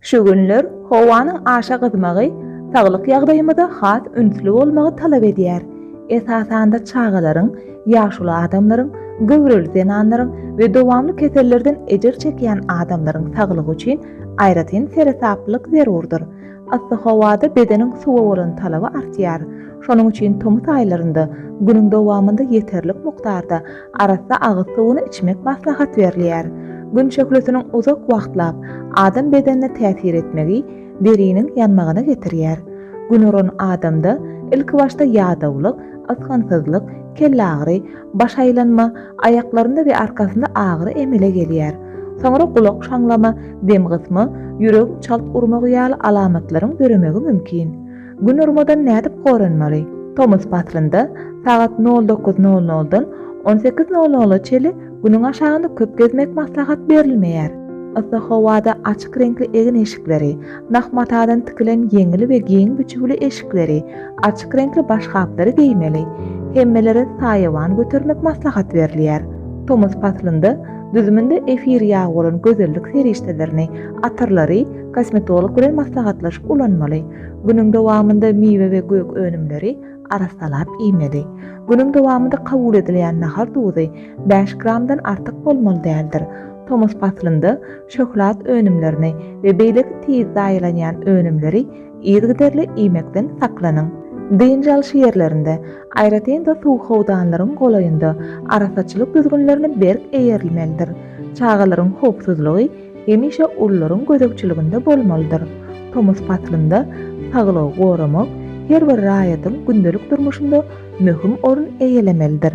Şu günler howanyň aşa gyzmagy saglyk ýagdaýymyza has ünsli bolmagy talap edýär. Esasanda çagalaryň, ýaşuly adamlaryň, göwreli zenanlaryň we dowamly kesellerden ejir çekýän adamlaryň saglygy üçin aýratyn seresaplylyk zerurdyr. Yssy howada bedeniň suwa bolan talaby artýar. Şonuň üçin tomus aýlarynda günüň dowamynda ýeterlik mukdarda Arassa agyz suwuny içmek maslahat berilýär. Gün şöhlesiniň uzak wagtlap adam bedenine täsir etmegi deriniň ýanmagyna getirýär. Günuran adamda ilkibaşda ýadawlyk, ysgynsyzlyk, kellagyry, baş aýlanma, aýaklarynda we arkasynda agyry emele gelýär. Soňra gulak şaňlama, dem gysma, ýüregiň çalt urmagy ýaly alamatlaryň döremegi mümkin. Gün urmadan nädip goranmaly? Tomus paslynda sagat nol dokuz nol noldan on sekiz nol nola çeli Günüň aşagyny köp gezmek maslahat berilmeýär. Yssy howada açyk reňkli egin-eşikleri, nah matadan tikilen ýeňil we giň biçüwli eşikleri, açyk reňkli başgaplary geýmeli. Hemmelere saýawan götermek maslahat berilýär. Tomus paslynda düzüminde efir ýagy bolan gözellik serişdelerini, atyrlary kosmetolog bilen maslahatlaşyp ulanmaly. Günüň dowamynda miwe we gök önümleri arassalap iýmeli. Günüň dowamynda kabul edilýän nahar duzy bäş gramdan artyk bolmaly däldir. Tomus paslynda şöhlat önümlerini we beýleki tiz zaýalanýan önümleri yzygiderli iýmekden saklanyň. Dynç alyş ýerlerinde, aýratyn-da suw howdanlaryň golaýynda arassaçylyk düzgünlerine berk eýerilmelidir. Çagalaryň howpsuzlygy hemişe ulularyň gözegçiliginde bolmalydyr. Tomus paslynda saglygy goramak her bir raýatyň gündelik durmuşynda möhüm orun eýelemelidir.